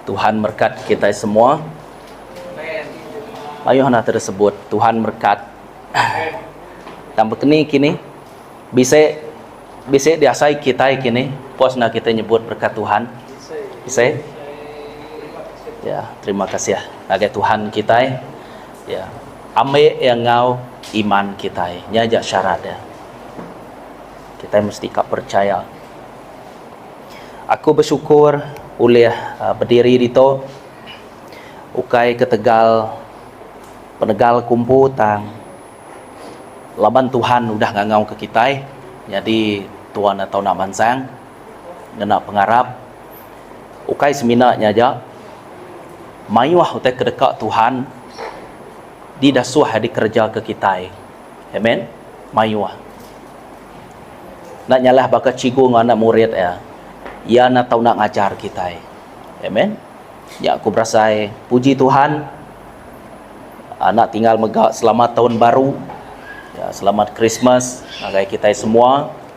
Tuhan merkat kitai semua. Mayuh anak tersebut, Tuhan merkat. Dan berkeni kini, bisa bisa diasai kitai kini, puas nak kita nyebut berkat Tuhan. Bisa? Ya, terima kasih. Lagi Tuhan kitai. Ya. Ambi iya enggau iman kitai. Nya aja syarat dia. Kitai mesti ka percaya. Aku besyukur ulih bediri ditu ukai ketegal penegal aku empu tang laban Tuhan udah ngangauka kitai nyadi tuan atau enda mansang. ngena pengarap ukai semina nya aja mayuh utai ke deka Tuhan didasuh dikerejaka kitai. Amen. Mayuh. Enda nyalah baka cikgu enggau anak murid iya. Iya enda tau enda ngajar kitai. Amen. Nya aku berasai puji Tuhan enda ah, tinggal mega selamat tahun baru. Ya, selamat Christmas ngagai kitai semua.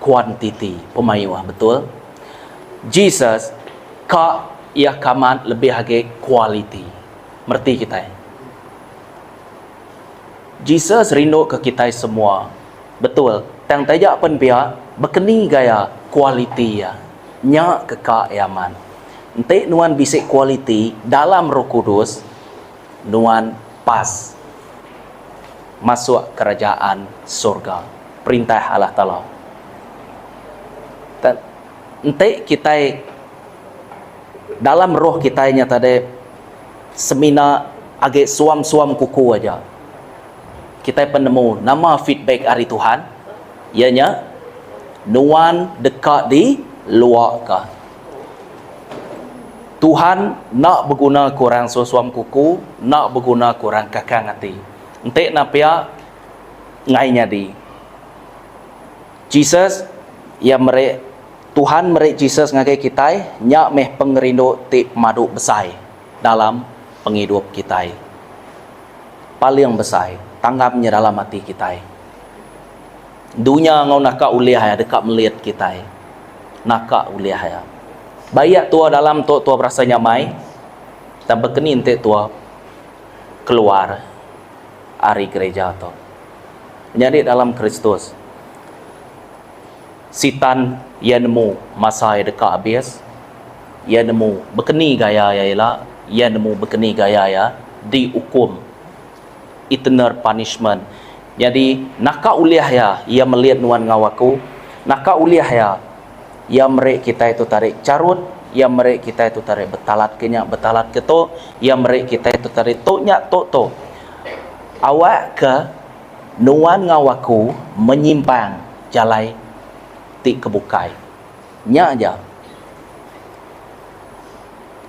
kuantiti pemayuh betul. Jesus ka iya ke amat lebih agi kualiti. Mereti kitai. Jesus rindu ke kitai semua betul tang taja pen pia bekeni gaya kualiti iya. Nya ke ka iya amat. Enti nuan bisi kualiti dalam Roh Kudus, Nuan pas masuk kerajaan surga, perintah Allah Taala. Tang enti kitai dalam roh kitai nya tadi semina agi suam-suam kuku aja, kitai pan nemu nama feedback ari Tuhan, iya nya nuan deka diluaka. Tuhan enda beguna ke orang suam-suam kuku, enda beguna ke orang kakang ati. Enti ena pia ngai nyadi. Jesus iya meri Tuhan meri Jesus ngagai kitai nya meh pengerindu ti pemadu besai dalam pengidup kitai. Paling besai tanggap nya dalam ati kitai. Dunya enggau naka ulih iya deka melit kitai. Naka ulih iya. Baik tua dalam tu tua berasai nyamai tauka keni enti tua keluar ari gereja tu. Menyadi dalam Kristus, Sitan iya nemu masa iya deka abis, iya nemu bekeni gaya iya ila, iya nemu bekeni gaya iya diukum. Etener punishment. Nyadi, naka ulih iya, iya melit nuan enggau aku. Naka ulih iya, iya meri kitai tu tarik charut, iya meri kitai tu tarik betalat ke nya, betalat ke tu, iya meri kitai tu tarik tu nya, tu tu. Awak ke nuan enggau aku menyimpang jalai ti ke bukai. Nya aja.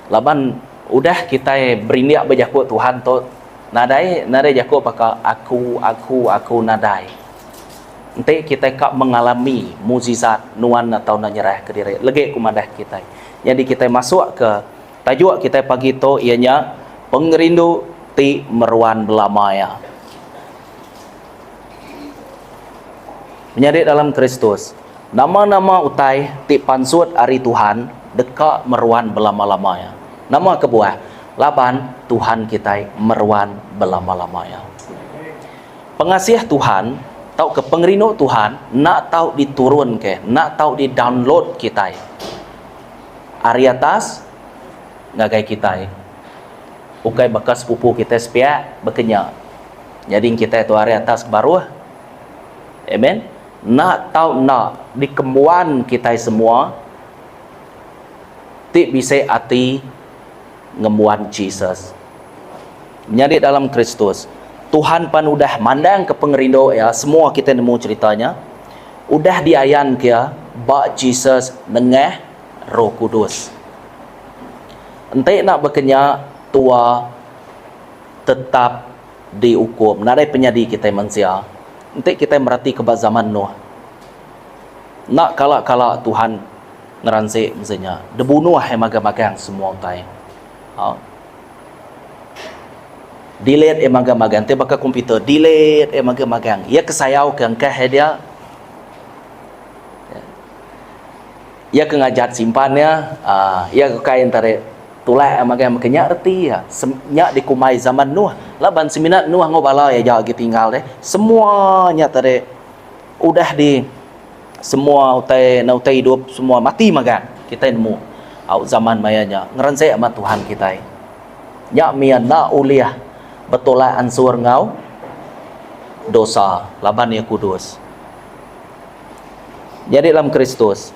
Laban udah kitai berindik ba jaku Tuhan tu, nadai nadai jaku baka aku, aku, aku nadai. Enti kitai ka mengalami mukjizat nuan enda tau enda nyerahka diri legi ku madah kitai. Nyadi kitai masukka tajuk kitai pagi tu iya nya pengerindu ti meruan belama iya. Menyadi dalam Kristus. Nama-nama utai ti pansut ari Tuhan deka meruan belama-lama iya. Nama kebuah? Laban Tuhan kitai meruan belama-lama iya. Pengasih Tuhan tauka pengerindu Tuhan enda tau diturunka, enda tau didownload kitai ari atas ngagai kitai. Ukai baka sepupu kitai sepiak baka nya. Nyadin kitai tu ari atas ke baruh. Amen. Enda tau enda dikembuan kitai semua ti bisi ati ngembuan Jesus. Menyadi dalam Kristus, Tuhan pan udah mandangka pengerindu Iya, semua kitai nemu cherita nya, udah diayanka Iya ba Jesus nengah Roh Kudus. Enti enda baka nya, tua. tetap diukum nadai penyadi kitai mensia enti kitai meratika ba zaman Noh. Enda kala-kala Tuhan ngeransik masa nya. Dibunuh ai magang-magang semua utai. Ha. Delete ai magang-magang ti baka komputer, delete ai magang-magang. Iya kesayau ke engkah ai dia. Iya ke ngajat simpan iya, ah iya ukai entarit. Tulak iya magang mega nya reti iya. Nya dikumbai zaman Nuh. Laban semina Nuh enggau bala iya aja agi tinggal deh. Semua nya tadi udah di semua utai enda utai idup semua mati magang. Kitai nemu au zaman maya nya ngeransik amat Tuhan kitai. Nya mih iya enda ulih betulak ansur enggau dosa laban iya kudus. Nyadi dalam Kristus.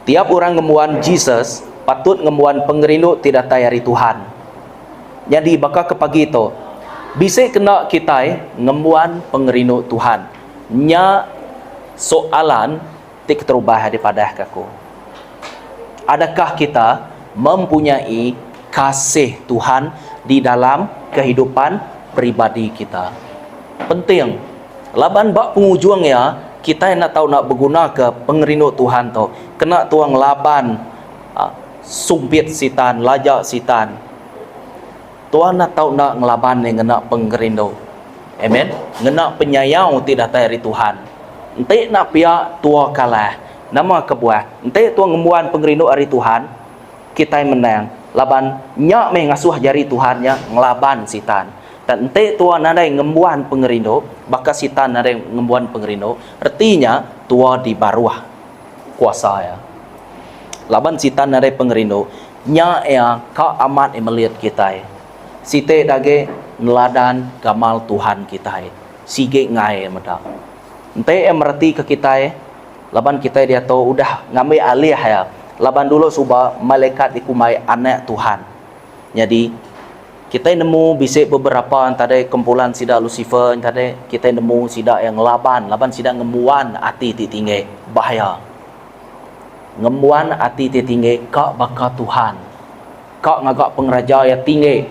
Tiap orang ngembuan Jesus patut ngembuan pengerindu ti datai ari Tuhan. Nyadi baka ke pagi tu, bisi kena kitai ngembuan pengerindu Tuhan? Nya soalan ti keterubah dipadahka aku. Adakah kita mempunyai kasih Tuhan di dalam kehidupan peribadi kita? Penting. Laban ba pengujung iya, kitai enda tau enda begunaka pengerindu Tuhan tu kena tua ngelaban sumpit Sitan, laja Sitan. Tua enda tau enda ngelaban iya ngena pengerindu. Amen. Ngena penyayau ti datai ari Tuhan. Enti enda pia, tua kalah. Nama kebuah? Enti tua ngembuan pengerindu ari Tuhan, kitai menang laban nya meh ngasuh jari Tuhan nya ngelaban Sitan. Tang enti tua nadai ngembuan pengerindu, baka sitan nadai ngembuan pengerindu, reti nya tua dibaruh kuasa iya. Laban sitan nadai pengerindu, nya iya ka amat iya melit kitai. Siti dagi neladan gamal Tuhan kitai, sigi ngai iya meda. Enti iya meretika kitai laban kitai diatu udah ngambi alih iya, laban dulu suba malaikat dikumbai anak Tuhan. Nyadi Kitai nemu bisi beberapa entadai kempulan sida Lusifer entadai kitai nemu sida iya ngelaban laban sida ngembuan ati ti tinggi. Bahaya. Ngembuan ati ti tinggi ka baka Tuhan. Ka ngaga pengeraja iya tinggi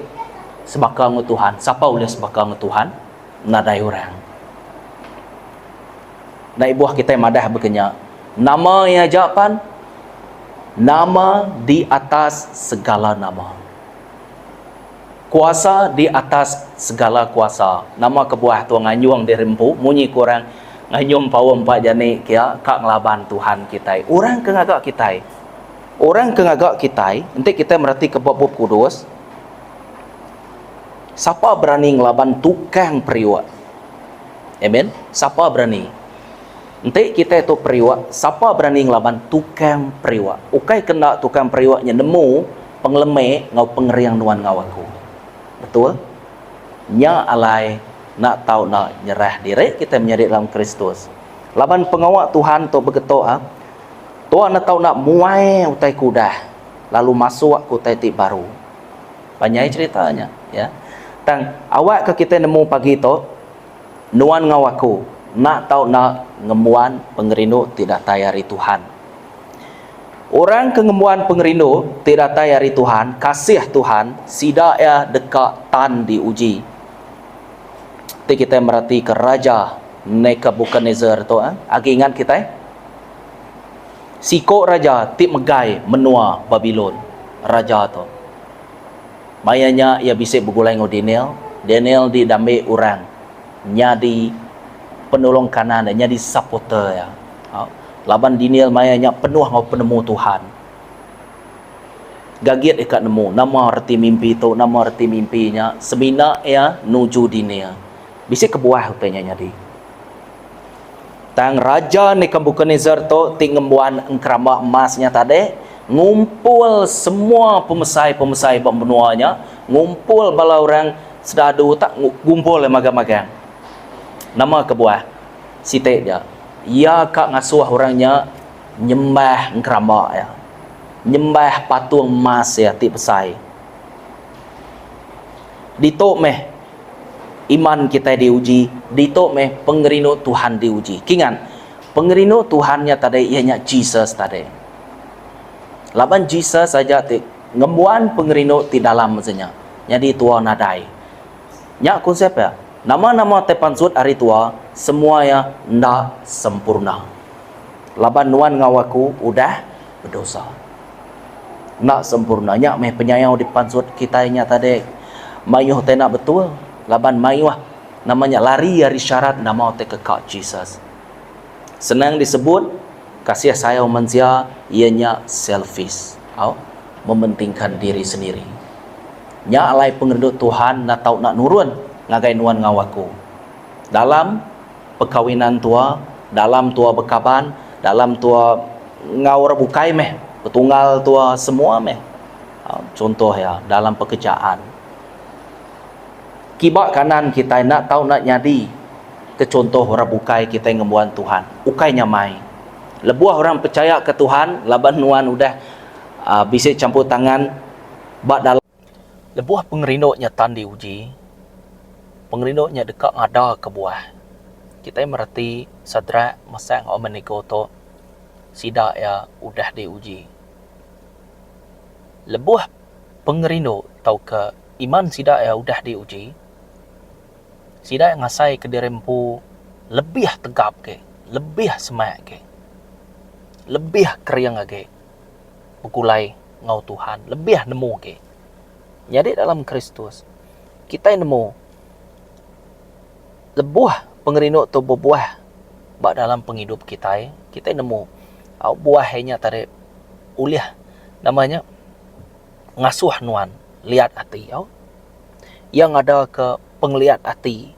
sebaka enggau Tuhan. Sapa ulih sebaka enggau Tuhan? Nadai orang. Enda ibuh kitai madah baka nya. Nama iya aja pan nama di atas segala nama. Kuasa di atas segala kuasa. Nama kebuah tua nganyung diri empu munyi ke orang nganyung empower empa jani kia ka ngelaban Tuhan kitai. Orang ke ngaga kitai. Orang ke ngaga kitai enti kitai merati ke ba bup kudus sapa berani ngelaban tukang periuk. Amen. Sapa berani. Enti kitai tu periuk sapa berani ngelaban tukang periuk. Ukai kena tukang periuk nya nemu Pengelemi enggau pengering nuan enggau aku. Betul? Nya alai enda tau enda nyerah diri kitai menyadi dalam Kristus. Laban pengawa Tuhan tu begetok ah, Tuan enda tau enda muai utai ke udah lalu masuk ke utai ti baru. Panjai cerita nya, ya. Tang awak ke kitai nemu pagi tu, nuan enggau aku enda tau enda ngembuan pengerindu ti datai ari Tuhan. Orang ke ngembuan pengerindu ti datai ari Tuhan, kasih Tuhan, sida iya deka tan diuji. Ti kitai meratika Raja Nebuchadnezzar tu eh, agi ingat kitai? Siko raja ti megai menua Babilon, raja tu. Maya nya iya bisi begulai enggau Daniel, Daniel diambil orang nyadi penulung kanan iya, nyadi supporter iya. Laban Daniel maya nya penuh enggau penemu Tuhan. Gagit iya ka nemu nama reti mimpi tu, nama reti mimpi nya. Semina iya nuju Daniel. Bisi kebuah utai nya nyadi. Tang Raja Nebukadnesar tu ti ngembuan engkeramba emas nya tadi ngumpul semua pemesai-pemesai ba menua nya, ngumpul bala orang sedadu tak ngumpul iya magang-magang. Nama kebuah? Siti ja, iya ka ngasuh orang nya nyembah engkeramba iya, nyembah patung emas iya ti besai. Ditu meh iman kitai diuji, ditu meh pengerindu Tuhan diuji. Kingat, pengerindu Tuhan nya tadi iya nya Jesus tadi. Laban Jesus aja ti ngembuan pengerindu ti dalam masa nya, nyadi tua nadai. Nya konsep iya. Nama-nama tai pansut ari tua, semua iya enda sempurna. Laban nuan enggau aku udah bedosa. Enda sempurna nya meh penyayau dipansut kitai nya tadi. Mayuh tai enda betul laban mayuh nama nya lari ari syarat nama tai keka Jesus. Senang disebut, kasih sayau mensia iya nya selfish au mementingkan diri sendiri. Nya alai pengerindu Tuhan enda tau enda nurun ngagai nuan enggau aku. Dalam pekawinan tua, dalam tua bekaban, dalam tua enggau orang bukai meh, betunggal tua, semua meh. Au, chunto iya dalam pekerjaan. Kiba kanan kitai enda tau enda nyadi ke chuntoh orang bukai kitai ngembuan Tuhan. Ukai nya mai. Lebuh orang pechaya ke Tuhan laban nuan udah bisi champur tangan ba dalam. Lebuh pengerindu nya tan diuji, pengerindu nya deka ngada kebuah. Kitai mereti Sadrak, Mesach enggau Abednego tu sida iya udah diuji. Lebuh pengerindu tauka Iman sida iya udah diuji. Sida iya ngasaika diri empu lebih tegap agi, lebih semak agi, lebih kering agi begulai enggau Tuhan, lebih nemu agi. Nyadi dalam Kristus, kitai nemu lebuh pengerindu tu bebuah ba dalam pengidup kitai, kitai nemu buah iya nya tadi ulih nama nya. ngasuh nuan liat ati au. Iya ngadaka pengeliat ati,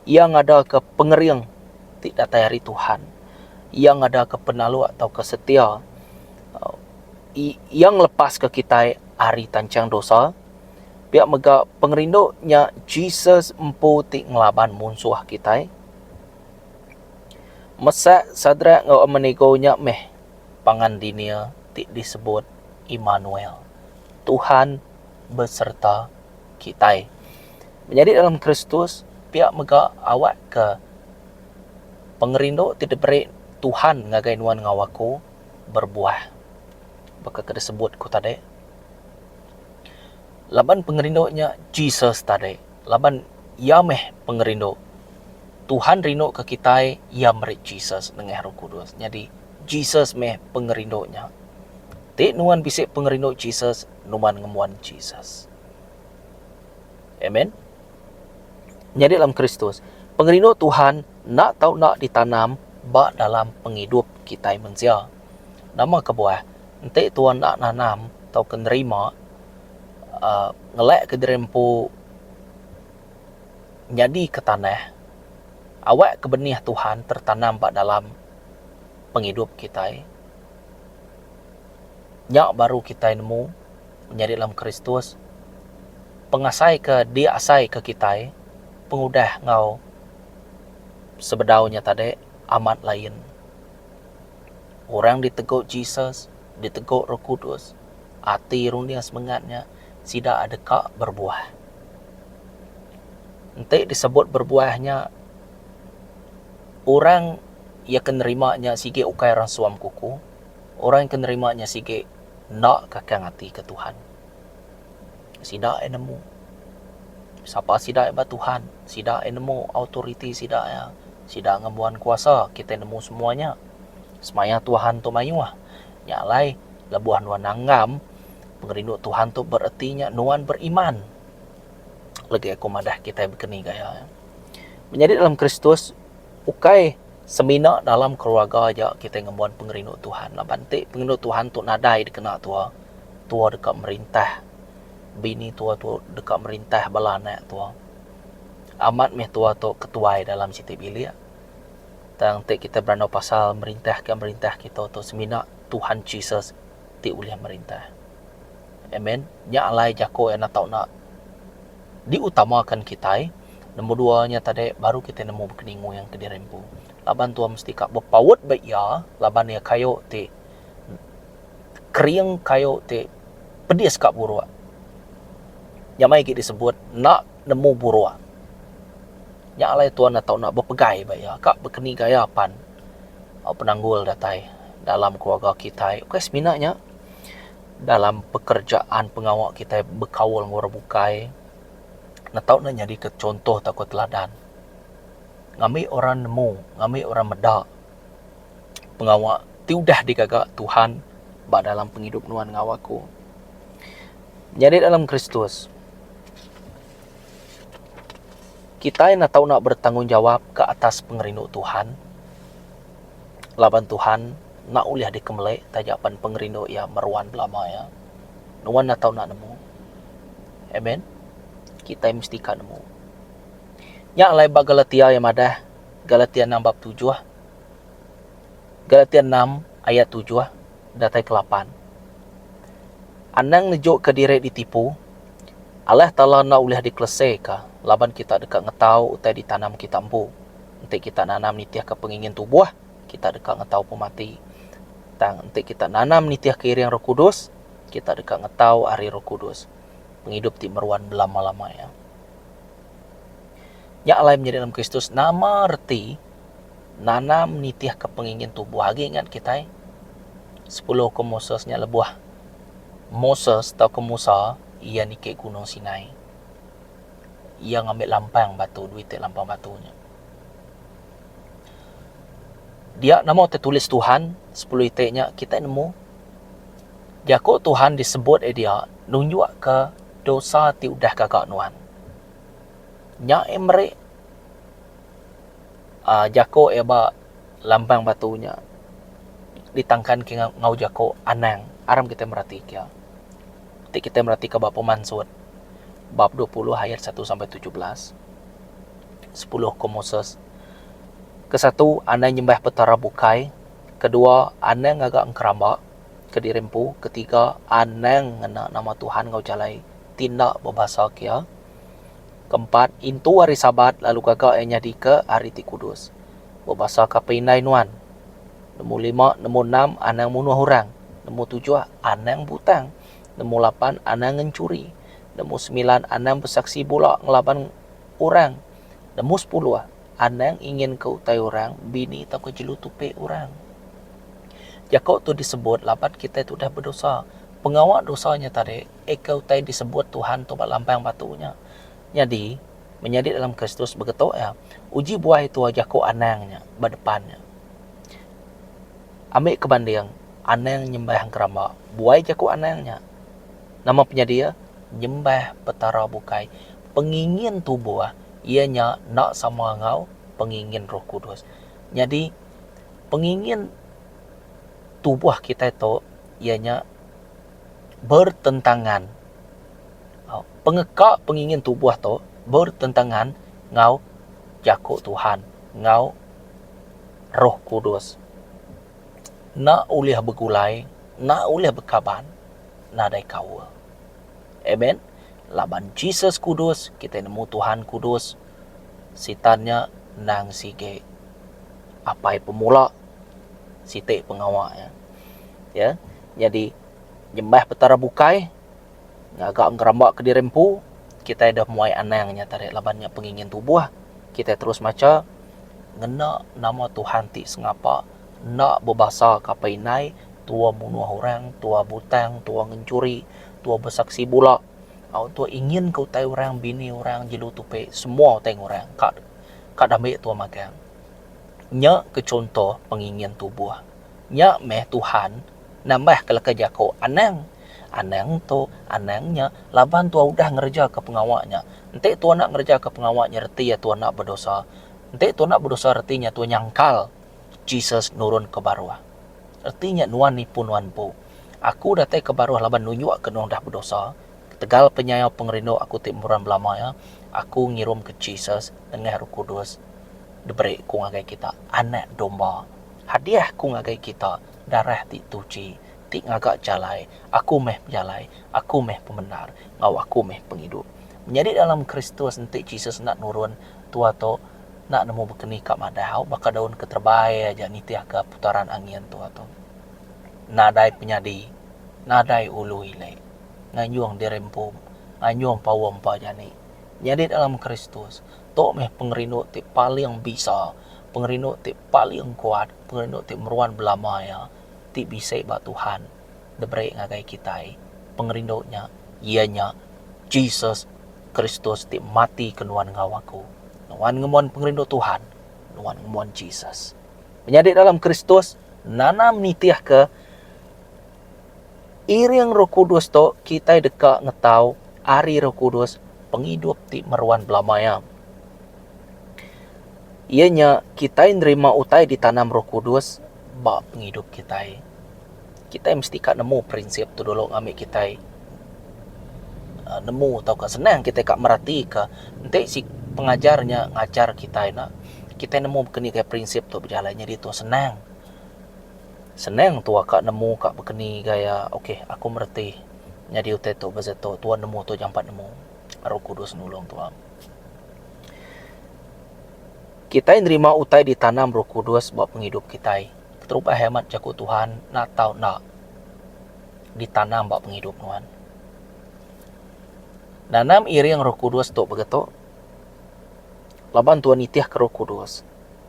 iya ngadaka pengering ti datai ari Tuhan. Iya ngadaka penaluk tauka setia. Iya ngelepaska kitai ari tanchang dosa. Pia mega pengerindu nya Jesus empu ti ngelaban munsuh kitai. Mesach Sadrak enggau Abednego nya meh. pangan dinia ti disebut Imanuel, Tuhan besereta kitai. Menyadi dalam Kristus pia mega awakka pengerindu ti diberi Tuhan ngagai nuan enggau aku berbuah. Baka ke disebut ku tadi, Laban pengerindu nya Jesus tadi. Laban iya meh pengerindu. Tuhan rindu ke kitai iya meri Jesus nengah roh kudus. Nyadi Jesus meh pengerindu nya. Ti nuan bisi pengerindu Jesus nuan ngembuan Jesus. Amen. Nyadi dalam Kristus, pengerindu Tuhan enda tau enda ditanam ba dalam pengidup kitai mensia. Nama kebuah enti tua enda nanam tauka nerima uhh ngelekka diri empu nyadika tanah awakka benih Tuhan tertanam ba dalam pengidup kitai? Nya baru kitai nemu menyadi dalam Kristus pengasai ke diasaika kitai pengudah enggau sebedau nya tadi. amat lain. Orang ditegok Jesus, ditegok Roh Kudus, ati runding semengat nya sida deka berbuah. Enti disebut berbuah nya, orang iya ke nerima nya sigi ukai orang suam kuku, orang ke nerima nya sigi enda kakang ati ke Tuhan. sida iya nemu sapa sida iya ba tuhan sida iya nemu authority sida iya sida ngembuan kuasa kita nemu semua nya semaya tuhan tu mayuh nya alai lebuh nuan nanggam pengerindu tuhan tu bereti nya nuan beriman legi aku madah kita bekeni gaya menyadi dalam kristus ukai Semina dalam keluarga aja kitai ngembuan pengerindu Tuhan laban ti pengerindu Tuhan tu nadai dikena tua. Tua deka merintah bini tua tu deka merintah bala anak tua. Amat meh tua tu ketuai dalam siti bilik. Tang ti kitai berandau pasal merintah ke merintah kita tu semina Tuhan Jesus ti ulih merintah. Amen. Nya alai jaku iya natau enda. diutamakan kitai, nombor dua nya tadi baru kitai nemu bakani ngui yang kediri empu. Laban tua mesti ka bepaut ba iya laban iya kayu ti kering kayu ti pedis ka buruk. Nya meh agi disebut enda nemu buruk. Nya alai tua enda tau enda bepegai ba iya ka bakani gaya pan penanggul datai dalam keluarga kitai. Ukai semina nya Dalam pekerjaan pengawa kitai bekaul enggau orang bukai, enda tau ne nyadika chunto tauka teladan. Ngambi orang nemu, ngambi orang meda pengawa ti udah digaga Tuhan ba dalam pengidup nuan enggau aku. Nyadi dalam Kristus, kitai enda tau enda betanggungjawap ke atas pengerindu Tuhan. Laban Tuhan enda ulih dikemelik taja pan pengerindu Iya meruan belama iya. Nuan enda tau enda nemu. Amen. Kitai mesti ka nemu. Nya alai ba Galatia iya madah, Galatia enam bab tujuh, Galatia enam ayat tujuh datai ke lapan. Anang nejuka diri ditipu, Allah Taala enda ulih dikeleseka laban kita deka ngetau utai ditanam kita empu. Enti kita nanam nitihka pengingin tubuh, kita deka ngetau pemati. Tang enti kita nanam nitihka iring Roh Kudus, kita deka ngetau ari Roh Kudus, pengidup ti meruan belama-lama iya. Nya alai menyadi dalam Kristus, nama reti nanam nitihka pengingin tubuh? Agi ingat kitai Sepuluh Ukum Moses nya lebuh Moses tauka Musa iya niki Gunung Sinai. Iya ngambi lampang batu, duit ti lampang batu nya. Dia nama tetulis Tuhan, sepuluh iti nya kitai nemu. Jaku Tuhan disebut eh dia nunjukka dosa ti udah gaga nuan. Nya eh meri uh, jaku eh ba lampang batu nya ditangkanka enggau jaku anang. Aram kitai meratika. Ti kitai meratika ba pemansut. Bab dua puluh ayat satu sampai tujuh belas, Sepuluh ko Moses, Kesatu anai nyembah Petara bukai, kedua anang ngaga engkeramba ke diri empu, ketiga anang ngena nama Tuhan enggau jalai ti enda bebasa kia, keempat intu hari Sabat lalu gaga iya nyadika hari ti kudus. Bebasaka apai indai nuan. Nemu lima nemu enam anang munuh orang, nemu tujuh anang butang, Nemu lapan anang ngencuri. Nemu semilan anang besaksi bula ngelaban orang. Nemu sepuluh anang inginka utai orang, bini tauka jelu tupi orang. Jaku tu disebut laban kitai tu udah bedosa. Pengawa dosa nya tadi, ika utai disebut Tuhan tu ba lambang batu nya. Nyadi, menyadi dalam Kristus begetu iya, uji buai tua jaku anang nya ba depan iya. Ambi ke banding, anang nyembah geramba. Buai jaku anang nya. Nama penyadi iya? Nyembah Petara bukai pengingin tubuh iya nya enda sama enggau pengingin Roh Kudus. Nyadi pengingin tubuh kitai tu iya nya bertentangan pengeka pengingin tubuh tu bertentangan enggau jaku Tuhan enggau Roh Kudus. Enda ulih begulai, enda ulih bekaban nadai kaul. Amen. Laban Jesus kudus, kitai nemu Tuhan kudus, Sitan nya endang sigi apai pemula siti pengawa iya. Ya. Nyadi nyembah petara bukai Ngaga ngeramba ke diri empu, kitai deh muai anang nya tadi laban nya pengingin tubuh. Kitai terus macha, Ngena nama Tuhan ti sengapa, enda bebasa ke apai indai, tua munuh orang, tua butang, tua ngenchuri, tua besaksi bula, au tua inginka utai orang, bini orang, jelu tupi, semua utai orang ka ka dambe tua magang. Nya ke chunto pengingin tubuh. Nya meh Tuhan. Nambah ke leka jaku anang, anang tu, anang nya, laban tua udah ngereja ke pengawa nya. Enti tua enda ngereja ke pengawa nya reti iya tua enda bedosa. Enti tua enda bedosa reti nya tua nyangkal Jesus nurun ke baruh. Reti nya nuan nipu nuan empu. Aku datai ke baruh laban nunjuk ke nuan udah bedosa. Ketegal penyayau pengerindu aku ti meruan belama iya, aku ngirum ke Jesus nengah Roh Kudus diberi ku ngagai kita, anak domba. Hadiah ku ngagai kita. Darah ti tuchi, ti ngaga jalai, aku meh pejalai, aku meh pemendar, enggau aku meh pengidup. Menyadi dalam Kristus enti Jesus enda nurun, tua tu enda nemu bekeni ka madah au baka daun ke terebai aja nitihka putaran angin tua tu. Nadai penyadi, nadai ulu ile, nganjung diri empu, nganjung pawa empa jani. Menyadi dalam Kristus, tu meh pengerindu ti paling bisa, pengerindu ti paling kuat. Perindu ti meruan belama iya ti bisi ba Tuhan diberi ngagai kitai. Pengerindu nya iya nya Jesus Kristus ti mati ke nuan enggau aku. Nuan ngembuan pengerindu Tuhan, nuan ngembuan Jesus. Menyadi dalam Kristus nanam nitihka. Iring Roh Kudus tu kitai deka ngetau ari Roh Kudus pengidup ti meruan belama iya. Iya nya kitai nerima utai ditanam Roh Kudus ba pengidup kitai. Kitai mesti ka nemu prinsip tu dulu ngambika kitai uhh nemu tauka senang kitai ka meratika enti si pengajar nya ngajar kitai ne kitai nemu ke prinsip tu bejalai nyadi tu senang. Senang tua ka nemu ka bekeni gaya ok aku mereti nyadi utai tu beza tu tua nemu tua jampat nemu roh kudus nulung tua. Kitai nerima utai ditanam roh kudus ba pengidup kitai keterubah amat jaku Tuhan enda tau enda ditanam ba pengidup nuan. Nanam iring roh kudus tu begetu laban tua nitih ka roh kudus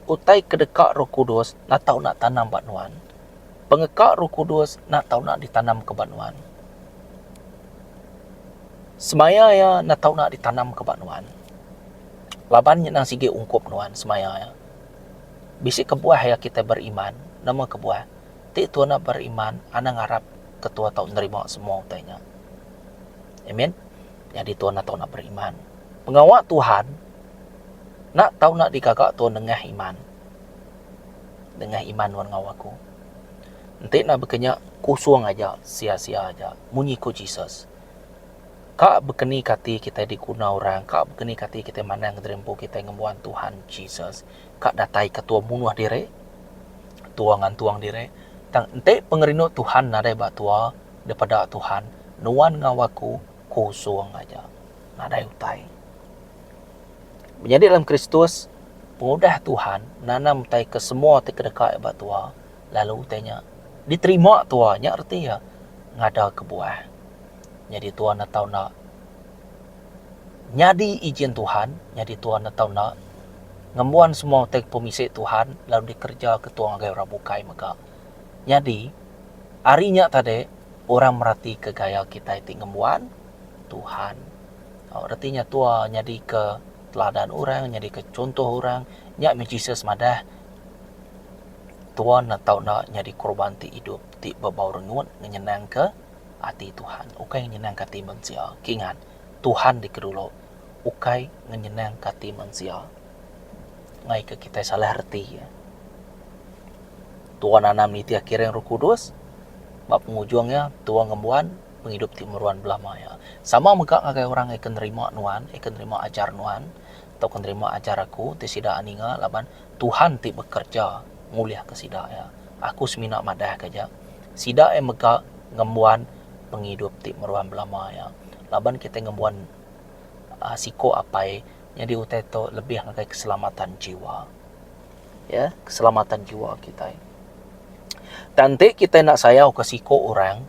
Utai ke deka Roh Kudus nak tau nak tanam ba nuan. Pengeka Roh Kudus nak tau nak ditanamka ba nuan. Semaya iya nak tau nak ditanamka ba nuan. Laban nya nang sigi ungkup nuan semaya iya. Bisi kebuah iya kitai beriman. Nama kebuah? Ti tua nak beriman anang arap ketua tau nerima semua utai nya. Amen. Nyadi tua nak tau nak beriman. Pengawa Tuhan enda tau enda digaga tau nengah iman. Nengah iman nuan enggau aku. Enti enda baka nya, kusung aja, sia-sia aja. Munyi ku Jesus. Ka bekeni kati kitai diguna orang, ka bekeni kati kitai manang diri empu kitai ngembuan Tuhan Jesus, ka datai ka tua munuh diri, tua ngantung diri. Tang enti pengerindu Tuhan nadai ba tua daripada Tuhan, nuan enggau aku kusung aja. nadai utai. Menyadi dalam Kristus, pengudah Tuhan nanam utai ke semua ti kedeka iya ba tua, lalu utai nya diterima tua nya reti iya ngada kebuah. Nyadi tua enda tau enda nyadi ijin Tuhan, nyadi tua enda tau enda ngembuan semua utai ke pemisi Tuhan lalu dikereja ke tua ngagai orang bukai mega. Nyadi ari nya tadi orang meratika gaya kitai ti ngembuan. Tuhan. Tau reti nya tua nyadika teladan orang nyadika chuntoh orang nya mih Jesus madah tua enda tau enda nyadi korban ti idup ti bebau rengut nyenangka ati Tuhan ukai nyenangka ati mensia. Kingat Tuhan dikedulu ukai nyenangka ati mensia. Ngaika kitai salah reti iya. Tua Nana menitika kiring Roh Kudus ba pengujung iya tua ngembuan. Pengidup ti meruan belama iya sama mega ngagai orang ngai ke nerima nuan, ke nerima ajar nuan, tauka nerima ajar aku ti sida ninga laban Tuhan ti bekereja ngulihka sida iya. Aku semina madahka aja, sida iya mega ngembuan pengidup ti meruan belama iya laban kitai ngembuan aaa siko apai nyadi utai to lebih ngagai keselamatan jiwa. ya keselamatan jiwa kitai. Tang enti kitai enda sayau ke siku orang,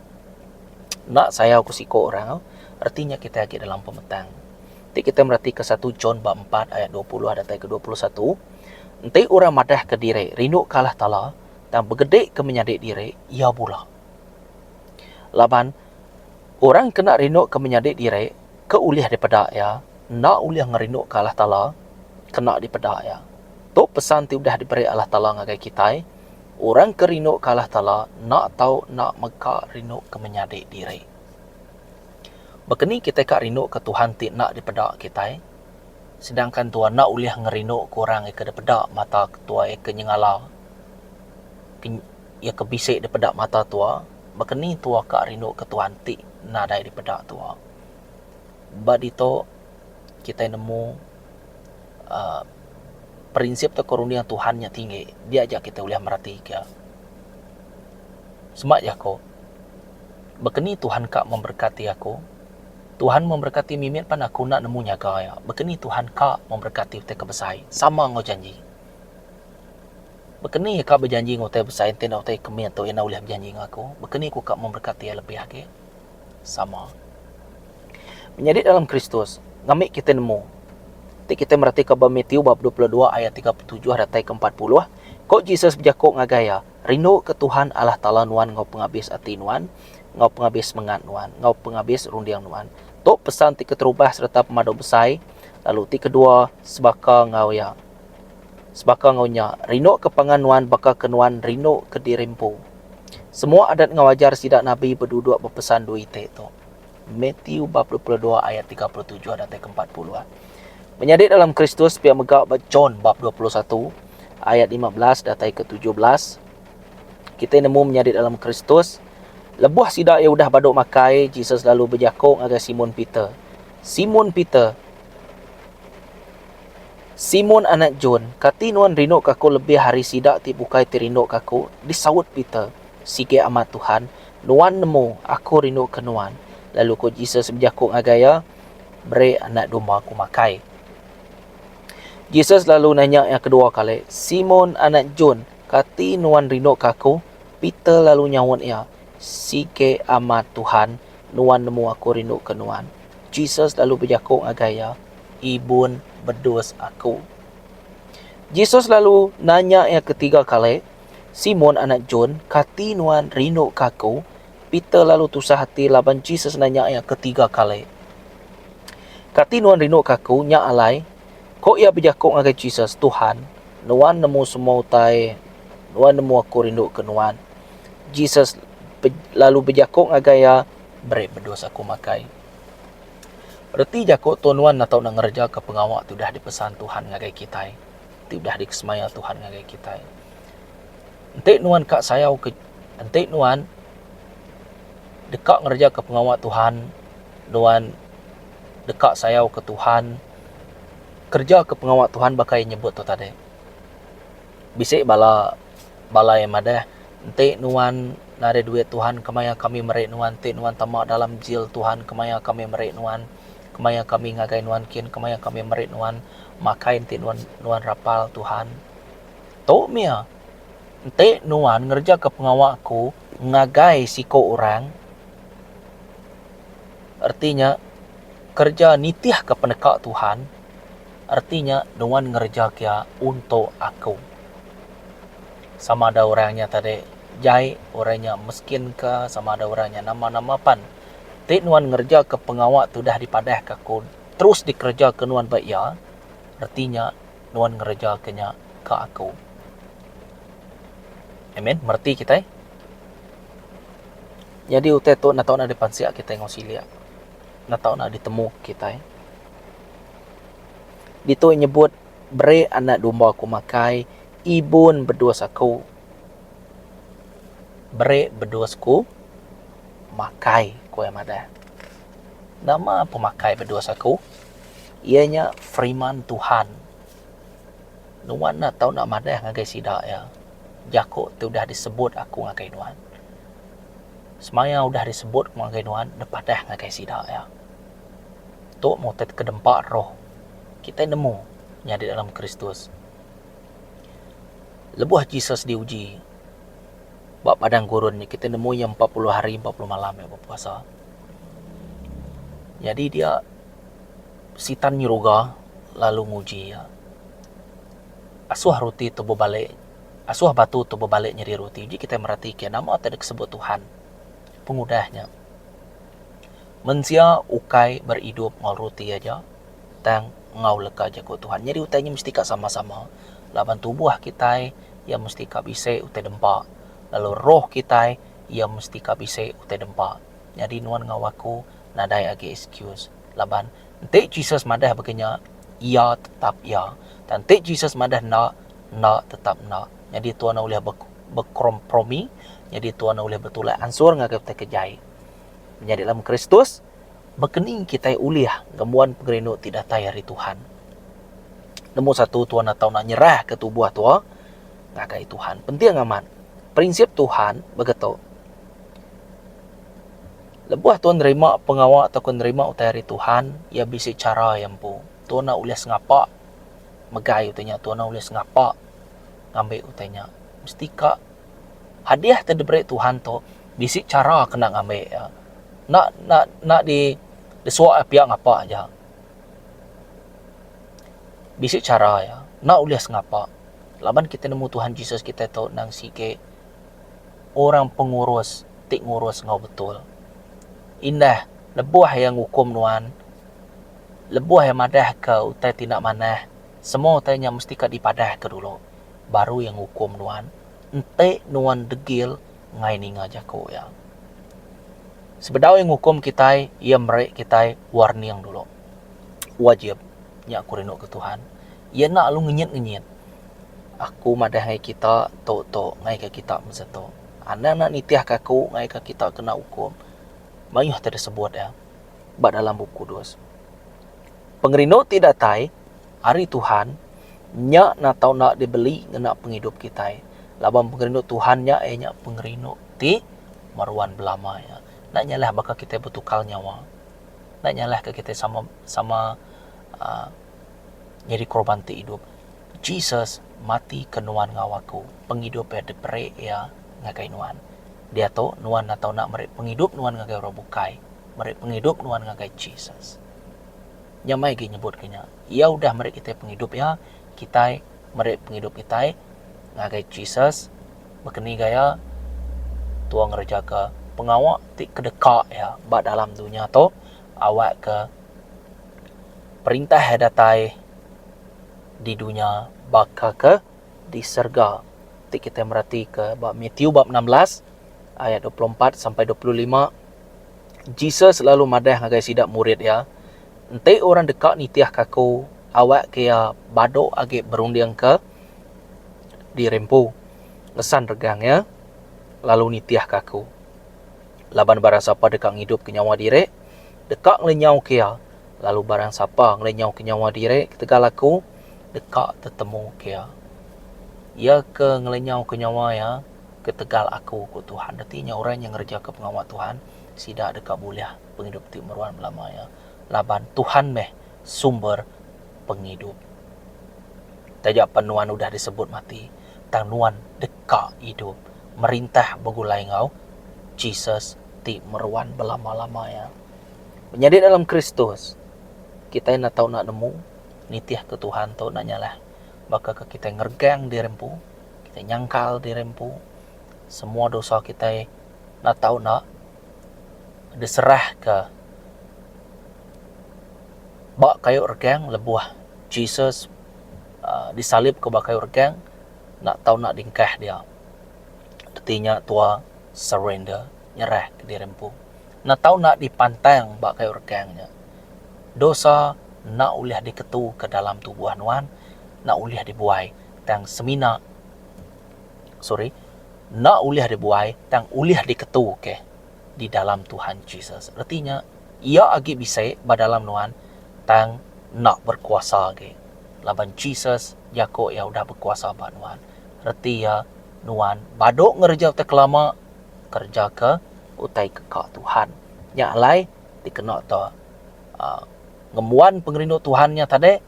enda sayau ke siku orang tu, reti nya kitai agi dalam pemetang. Enti kitai meratika satu John bab empat ayat dua puluh datai ke dua puluh satu, enti orang madahka diri rinduka Allah Taala tang begedika menyadi diri iya bula. Laban orang ke enda rinduka menyadi diri ke ulih dipeda iya enda ulih ngerinduka Allah Taala kena dipeda iya. Tu pesan ti udah diberi Allah Taala ngagai kitai, Orang ke rinduka Allah Taala enda tau enda mega rinduka menyadi diri. Baka ni kitai ka rinduka Tuhan ti enda dipeda kitai, sedangkan Tuhan enda ulih ngerinduka orang ke dipeda mata ketua iya ke nyengala iya ke bisi dipeda mata tua, baka ni tua ka rinduka Tuhan ti nadai dipeda tua. Ba ditu kitai nemu uhh. Prinsip tauka runding Tuhan nya tinggi, dia aja kitai ulih meratika. Sema jaku, Baka ni Tuhan ka memberkati aku? Tuhan memberkati mimit pan aku enda nemu nyaga iya. Baka ni Tuhan ka memberkati utai ke besai sama enggau janji? Baka ni Iya ka bejanji enggau utai besai enti enda utai ke mih tu Iya enda ulih bejanji enggau aku? Baka ni aku ka memberkati iya lebih agi? sama. Menyadi dalam Kristus, ngambi kita nemu. Ti kita meratika ba Matiu bab 22 ayat 37 datai ke 40, ko Jesus bejaku ngagai iya, Rindu ke Tuhan Allah Taala nuan enggau pengabis ati nuan, enggau pengabis semengat nuan, enggau pengabis runding nuan. Tu pesan ti keterubah sereta pemadu besai, lalu ti kedua sebaka enggau iya. Sebaka enggau nya, rinduka pangan nuan baka ke nuan rinduka diri empu. Semua adat enggau ajar sida nabi beduduk bepesan dua iti tu. Matiu bab dua puluh dua ayat tiga puluh tujuh datai ke empat puluh. Menyadi dalam Kristus pia mega ba John bab dua puluh satu ayat lima belas datai ke tujuh belas. Kitai nemu menyadi dalam Kristus lebuh sida iya udah badu makai, Jesus lalu bejaku ngagai Simon Peter, Simon Peter, Simon anak Jon, kati nuan rinduka aku lebih ari sida ti bukai ti rinduka aku? Disaut Peter, Sigi amat, Tuhan, nuan nemu aku rinduka nuan. Lalu ku Jesus bejaku ngagai iya, Beri anak domba aku makai. Jesus lalu nanya iya kedua kali, Simon anak Jon, kati nuan rinduka aku? Peter lalu nyaut iya, Sigi amat, Tuhan, nuan nemu aku rinduka nuan. Jesus lalu bejaku ngagai iya, ibun bedus aku. Jesus lalu nanya iya ketiga kali, Simon anak John, kati nuan rinduka aku? Peter lalu tusah ati laban Jesus nanya iya ketiga kali. Kati nuan rinduka aku? Nya alai, ko iya bejaku ngagai Jesus, Tuhan, nuan nemu semua utai, nuan nemu aku rinduka nuan. Jesus lalu bejaku ngagai iya, Beri bedus aku makai. Reti jaku tu nuan enda tau nak ngerejaka pengawa ti udah dipesan Tuhan ngagai kitai, ti udah dikesemaya Tuhan ngagai kitai. Enti nuan ka sayau ke enti nuan deka ngerejaka pengawa Tuhan, nuan deka sayau ke Tuhan, kerejaka pengawa Tuhan baka iya nyebut tu tadi. Bisi bala balai madah, Enti nuan nadai duit Tuhan kemaya kami meri nuan enti nuan tama dalam jil Tuhan kemaya kami meri nuan kemaya kami ngagai nuan kin kemaya kami meri nuan makai enti nuan nuan rapal Tuhan. Tu mia Enti nuan ngerejaka pengawa aku ngagai siku orang reti nya kereja nitihka peneka Tuhan, Erti nya nuan ngereja kia untuk aku. Sama ada orang nya tadi jai, orang nya meskin ka sama ada orang nya nama-nama pan, ti nuan ngereja ke pengawa ti udah dipadah ka aku terus dikereja ke nuan ba iya, erti nya nuan ngereja ke nya ka aku. Amen. Mereti kitai. Nyadi utai tu enda tau enda dipansik kitai enggau silik. Enda tau enda ditemu kitai. Ditu nyebut beri anak domba ku makai ibun bedus aku beri bedus ku makai ku iya madah. Nama pemakai bedus aku iya nya firman Tuhan. Nuan enda tau enda madah ngagai sida iya. Jaku ti udah disebut aku ngagai nuan. Semaya udah disebut aku ngagai nuan deh padah ngagai sida iya. Tu meh utai ti kedempa roh kitai nemu nyadi dalam Kristus. Lebuh Jesus diuji ba padang gurun nya kitai nemu iya empat puluh hari empat puluh malam iya bepuasa. Nyadi dia Sitan nyeruga lalu nguji iya. Asoh ruti tu bebale, asoh batu tu bebale nyadi ruti. Uji kitai meratike nama tau dikesebut Tuhan pengudah nya. Mensia ukai beridup enggau ruti aja, tang enggau leka jaku Tuhan. Nyadi utai nya mesti ka sama-sama, laban tubuh kitai iya mesti ka bisi utai dempa, lalu roh kitai iya mesti ka bisi utai dempa. Nyadi nuan enggau aku nadai agi excuse. Laban enti Jesus madah baka nya, iya tetap iya. Tang enti Jesus madah enda, enda tetap enda. Nyadi tuan ulih bekompromi, nyadi tuan ulih betulak ansur ngagai utai ke jai. Menyadi dalam Kristus, bekening kitai ulih ngembuan pengerindu ti datai ari Tuhan. Nemu satu tuan atau nak nyerahka tubuh tua ngagai Tuhan. Penting amat. Prinsip Tuhan begitu. Lebuh tuan nerima pengawa atau nerima utai ari Tuhan, ia bisi cara ia empu. Tuan nak ulih sengapa megai utai nya, tuan nak ulih sengapa ngambi utai nya. Mesti ka hadiah ti diberi Tuhan tu Bisi chara kena ngambi iya. Enda enda enda di disuak iya pia ngapa aja. Bisi chara iya. Enda ulih sengapa. Laban kitai nemu Tuhan Jesus kitai tu endang sigi orang pengurus ti ngurus enggau betul. Indah lebuh iya ngukum nuan, lebuh iya madahka utai ti enda manah, semua utai nya mesti ka dipadahka dulu baru iya ngukum nuan. Enti nuan degil ngai ninga jako iya. Sebedau iya ngukum kitai, iya meri kitai warning dulu. Wajib nya aku rindu ke Tuhan. Iya enda lalu ngenyit-ngenyit. Aku madah ngai kita tu-tu ngai ka kita masa tu. Anang enda nitih ka aku ngai ka kita kena ukum. Mayuh te disebut iya ba dalam Bup Kudus. Pengerindu ti datai. Ari Tuhan, nya enda tau enda dibeli ngena pengidup kitai, laban pengerindu Tuhan nya iya nya pengerindu ti meruan belama iya. Enda nyalah baka kitai betukar nyawa. Enda nyalah ka kitai sama sama aaa nyadi korban ti idup. Jesus mati ke nuan enggau aku, pengidup iya diperi iya ngagai nuan. Diatu nuan enda tau enda meri pengidup nuan ngagai orang bukai, meri pengidup nuan ngagai Jesus. Nya meh agi nyebut ke nya. Iya udah meri kitai pengidup iya, kitai meri pengidup kitai ngagai Jesus. Baka ni gaya Tuhan ngerejaka pengawa ti kedeka iya ba dalam dunya tu awakka perintah iya datai di dunya baka ke di serega. Ti kitai meratika ba Matthew bab enam belas ayat dua puluh empat sampai dua puluh lima. Jesus lalu madah ngagai sida murid iya, Enti orang deka nitihka aku, awakka iya badu agi berundingka diri empu, ngesan regang iya, lalu nitihka aku. Laban barang sapa deka ngidupka nyawa diri, deka ngelenyauka iya, lalu barang sapa ngelenyauka nyawa diri ketegal aku, deka tetemuka iya. Iya ke ngelenyauka nyawa iya. Ketegal aku, ku Tuhan, reti nya orang nya ngerejaka pengawa Tuhan, sida deka bulih pengidup ti meruan belama iya, laban Tuhan meh sumber pengidup. Taja pen nuan udah disebut mati, tang nuan deka idup, merintah begulai enggau Jesus ti meruan belama-lama iya. Menyadi dalam Kristus, kitai enda tau enda nemu nitihka Tuhan tu enda nyalah baka ke kitai ngeregang diri empu. Kitai nyangkal diri empu semua dosa kitai enda tau enda diserahka ba kayu regang lebuh Jesus aaa disalibka ba kayu regang enda tau enda dingkah dia. Reti nya tuwa surrender nyerah ke diri empu. Enda tau enda dipantang ba kayu regang nya. Dosa enda ulih diketuka dalam tubuh nuan enda ulih dibuai. tang semina sorry enda ulih dibuai tang ulih diketuka di dalam Tuhan Jesus. Reti nya iya agi bisi ba dalam nuan tang enda berkuasa agi laban Jesus jaku iya udah berkuasa ba nuan. Reti iya nuan badu ngereja utai kelama kereja ke utai ke ka Tuhan. Nya alai dikena ta uh, ngembuan pengerindu Tuhan nya tadi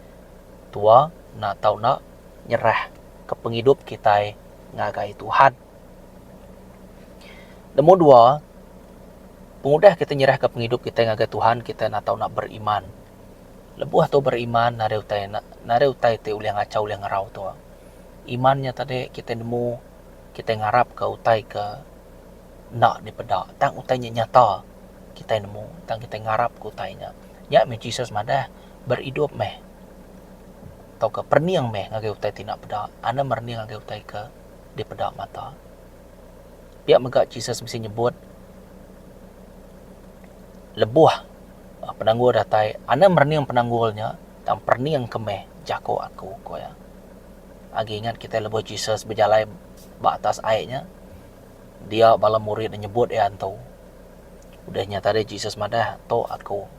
tua enda tau enda nyerah ke pengidup kitai ngagai Tuhan. Nombor dua, pengudah kitai nyerah ke pengidup kitai ngagai Tuhan, kitai enda tau enda beriman. Lebuh tu beriman nadai utai enda nadai utai ti ulih ngachau ulih ngerau tua. Iman nya tadi kitai nemu kitai ngarap ke utai ke enda dipeda tang utai nya nyata kitai nemu tang kitai ngarap ke utai nya. Nya meh Jesus madah beridup meh tauka perening meh ngagai utai ti enda peda, anang merening ngagai utai ke dipeda mata. Pia mega Jesus bisi nyebut lebuh penanggul datai, anang merening penanggul nya tang perening ke meh jaku aku, ku iya. Agi ingat kitai lebuh Jesus bejalai ba atas ai nya, dia bala murid nya nyebut iya antu. Udah nya tadi Jesus madah, Tu aku.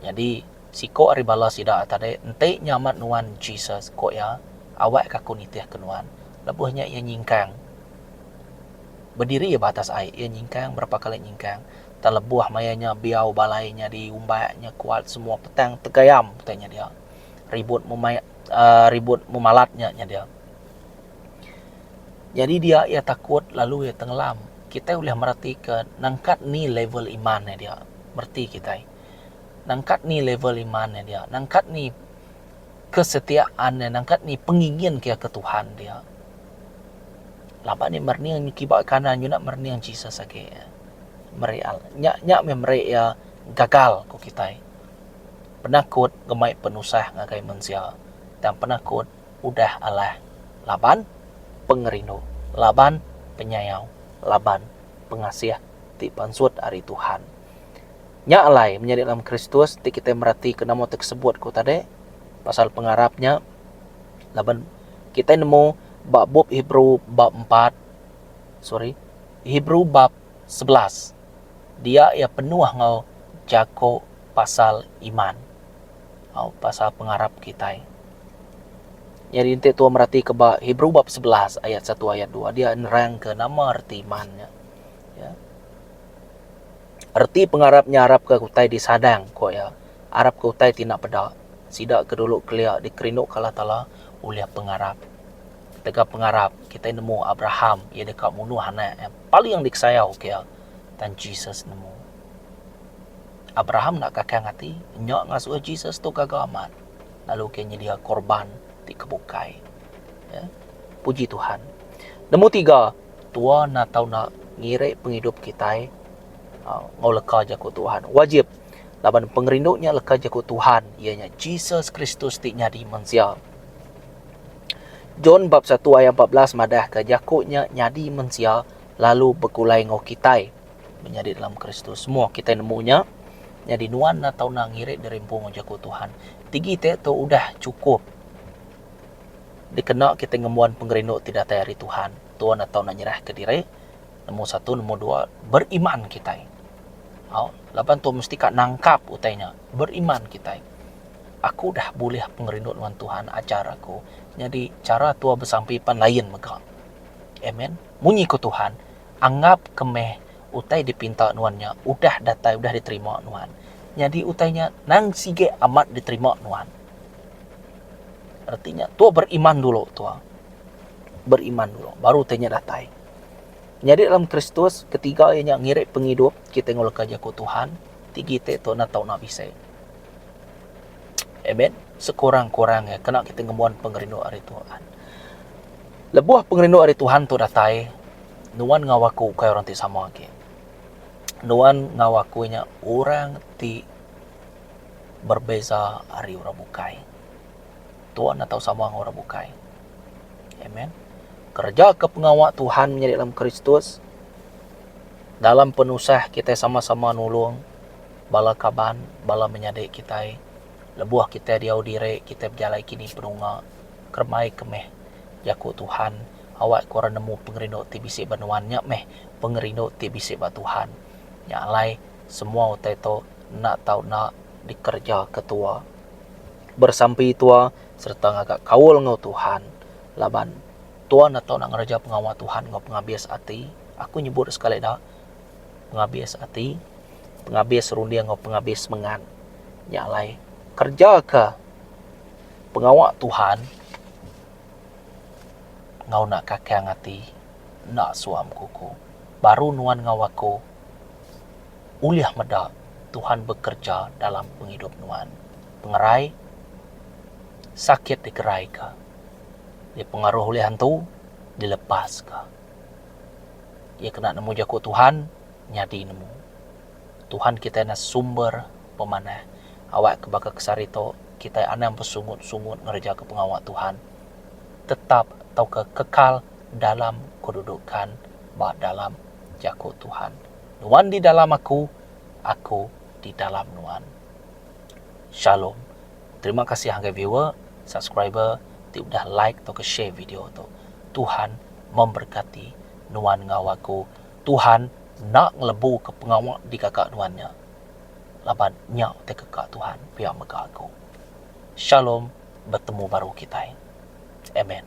Nyadi, siko ari bala sida tadi enti nyambat nuan Jesus, ko iya, Awakka aku nitihka nuan. Lebuh nya iya nyingkang bediri ba atas ai. Iya nyingkang berapa kali nyingkang, tang lebuh maya nya biau balai nyadi umbak nya kuat semua petang tegayam utai nya dia. Ribut memaya ribut memalat nya nya dia. Nyadi dia iya takut lalu iya tengelam. Kitai ulih meratika nangkat ni level iman iya dia. mereti kitai. Nangkat ni level iman iya dia, nangkat ni kesetiaan iya, nangkat ni pengingin ke iya ke Tuhan dia. Laban iya merening nya kiba iya kanan nyunak merening Jesus agi meri al nya nya meh meri iya gagal ku kitai. Penakut ngemai penusah ngagai mensia tang penakut udah alah laban pengerindu, laban penyayau, laban pengasih. ti pansut ari Tuhan. Nya alai menyadi dalam Kristus ti kitai meratika nama ti kesebut ku tadi pasal pengarap nya laban kitai nemu ba bup Hebrew bab empat sorry Hebrew bab sebelas dia ia penuh enggau jaku pasal iman au pasal pengarap kitai. Nyadi enti tuan meratika ba Hebrew bab sebelas ayat satu ayat dua dia nerangka nama reti iman nya. Ya. Reti pengarap nya arap ke utai disadang, ku iya. Arap ke utai ti enda peda. Sida ke dulu kelia dikerinduka Allah Taala ulih pengarap. Ketegal pengarap, kitai nemu Abraham, iya deka munuh anak iya paling dikesayau, ku iya. Tang Jesus nemu. Abraham enda kakang ati. Nya ngasuh Jesus tu gaga amat lalu ke nyedia korban ti ke bukai. Ya. Puji Tuhan. Nemu tiga, Tua enda tau na ngirik pengidup kitai enggau leka jaku Tuhan. Wajib laban pengerindu nya leka jaku Tuhan iya nya Jesus Kristus ti nyadi mensia. John bab 1 ayat 14 madahka jaku nya nyadi mensia lalu begulai enggau kitai menyadi dalam Kristus. Moh kitai nemu nya, nyadi nuan enda tau na ngirik diri empu enggau jaku Tuhan. Tigi te tu udah chukup. dikena kitai ngembuan pengerindu ti datai ari Tuhan, tun atau enda nyerahka diri, nombor satu nombor dua beriman kitai. Au, laban tu mesti ka nangkap utai nya, beriman kitai. Aku udah bulih pengerindu nuan Tuhan ajar aku. Nyadi chara tua besampi pan lain mega. Amen. Munyi ku Tuhan, anggap ke meh utai dipinta nuan nya udah datai udah diterima nuan. Nyadi utai nya nang sigi amat diterima nuan. Reti nya, tua beriman dulu, tua. Beriman dulu, baru te nya datai. Nyadi dalam Kristus, ketiga iya nya ngirik pengidup, kita ngulka jaku Tuhan, tigi te tua na tau na bisi. Amen. Sekurang-kurang ya, kena kita ngembuan pengerindu hari Tuhan. Lebuh pengerindu hari Tuhan tu datai, nuan ngau aku ukai orang ti sama agi. Nuan ngau aku nya orang ti berbeza ari orang bukai. Tuhan enda tau sama enggau orang bukai. Amen. Kereja ke pengawa Tuhan menyadi dalam Kristus dalam penusah kita sama-sama nulung bala kaban, bala menyadi kita lebuh kita diau diri kita bejalai kini penunga kremai ke meh jaku Tuhan awak ke orang nemu pengerindu ti bisi ba nuan nya meh pengerindu ti bisi ba Tuhan. Nya alai Semua utai tu enda tau enda dikereja ketua bersampi tua sereta ngaga kaul enggau Tuhan laban tua enda tau enda ngereja pengawa Tuhan enggau pengabis ati. Aku nyebut sekali da pengabis ati, pengabis runding enggau pengabis semengat. Nya alai kerejaka pengawa Tuhan enggau enda kakang ati enda suah mengkuku. Baru nuan enggau aku. ulih meda Tuhan bekereja dalam pengidup nuan. Pengerai sakit dikeraika, dipengaruh ulih antu dilepaska. Iya kena nemu jaku Tuhan nyadi nemu. Tuhan kitai enda sumber pemanah. Awakka baka kesari tu kitai anang besungut-sungut ngereja pengawa Tuhan tetap tauka kekal dalam kedudukan ba dalam Jaku Tuhan, Nuan di dalam aku, aku di dalam Nuan. Shalom. Terima kasih ngagai viewer, subscriber ti udah like tauka share video tu. Tuhan memberkati nuan enggau aku. Tuhan enda ngelebuka pengawa digaga nuan nya. Laban nya utai ke ka Tuhan pia mega aku. Shalom, betemu baru kitai. Amen.